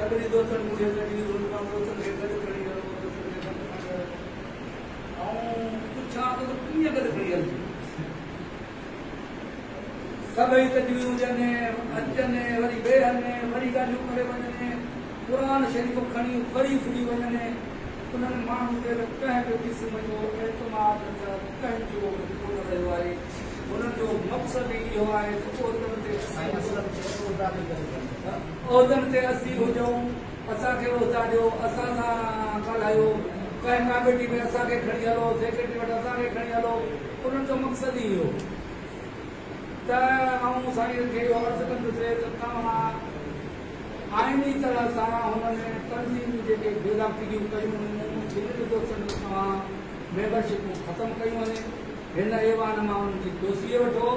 سڀني دوستن مون کي گڏجي روڊ مان بوتل کي گڏ کڻي هلڻ جو مشورو ڏنو ته مان چيو ته آئون پڇان ٿو ته ڪيئن گڏ کڻي هلجي. سڀئي تجويزون ڏين ۽ اچن ۽ وري ويهن ۽ وري ڳالهيون ڪري وڃن ۽ قرآن شريف کڻي وري ڦري وڃن ۽ انهن ماڻهن تي ته ڪنهن به قسم جو اعتماد نه ڪنهن جو به ڪونه رهيو آهي. ان جو مقصد ئي اهو آهي ته عهدن تي اسين اصل ۾ عهدا ڏيندڙ ڪم نه ڪيون. عهدن تي اسين هجون، اسان کي عهدا ڏيو، اسان سان ڳالهايو، ڪنهن ڪاميٽي ۾ اسان کي کڻي هلو، سيڪريٽري وٽ اسان کي کڻي هلو، انهن جو مقصد ئي اهو ته آئون سائين کي اهو عرض ڪندسي ته توهان آئيني طرح سان هنن تنظيمون جيڪي بيضابطگيون ڪيون هيون جنهن جو سبب توهان ميمبرشپون ختم ڪيون هين. هن ايوان مان انهن جي توسيع وٺو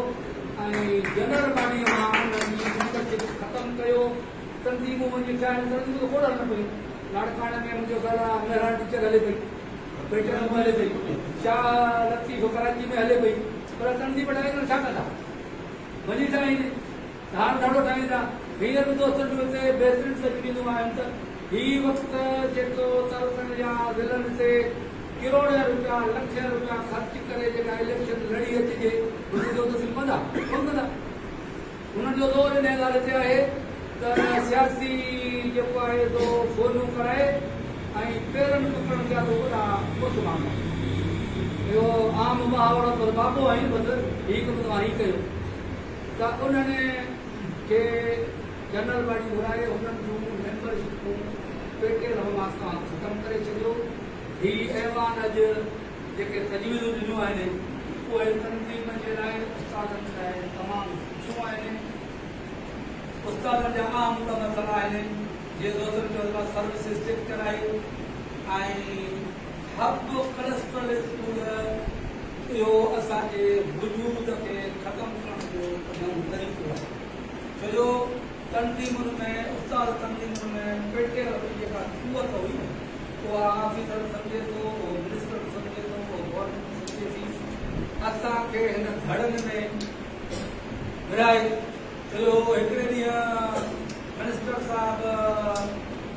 ۽ جنرل باڊيء مان انهن جي ميمبرشپ ختم ڪيو. تنظيمون وڃي اٺايل تنظيمون ته کوڙ هلن پيون. لاڙڪاڻي ۾ منهنجو خيال آهي مهراڻ ٽيچر هلي پئي، بيٽن ۾ هلي پئي، شاهه لطيف ڪراچي ۾ هلي پئي پر تنظيم ٺاهي ڪري ڇا ڪندا؟ وڃي ٺاهين. ڌار ڌڙو ٺاهين ٿا. هينئر به دوستن جون هتي بهترين تقريرون آهن ته هي وقت جيڪو تعلقن يا ضلعن تي ڪروڙين روپيا، لکين روپيا خرچ ڪري جيڪا اليڪشن لڙي اچجي انهن جو ته سنڌ ڪندا ڪونه ڪندا. انهن جو زور انهيء ڳالهه تي آهي ته سياسي جيڪو آهي سو فونون ڪرائي ۽ پيرن ڪڪڙن جا به وڏا ڪوٺ ڀاڱي. اهو عام محاورو پر بابو آهين بس هي ڪم توهان ئي ڪيو. ته انهن کي جنرل باڊي گهرائي هنن جون ميمبر شپون پيٽي رهواس کان ختم ڪري ڇڏيو. هي ايوان اڄ جيڪي تجويزون ڏنيون آهن اهي تنظيم جي لاء استادن جي لاء تمام سٺيون آهن. استادن جا اهم ٻه مسئلا آهن جيئن دوستن چيو ته سروسز چيڪ ڪرائي ۽ حق پرستپرست هوندڙ، اهو اسان جي وجود کي ختم ڪرڻ جو نئون طريقو آهي، ڇو جو تنظيمن ۾ استاد تنظيمن ۾ پيٽيل وٽ جيڪا قوت هئي نه، اها آفيسر به سمجهي ٿو، اهو منسٽر به سمجهي ٿو، اهو گورنمينٽ به سمجهي ٿي، اسان کي هن ڌڙن ۾ ورهائي ڇڏيو هو، هڪڙي ڏينهن منسٽر صاحب.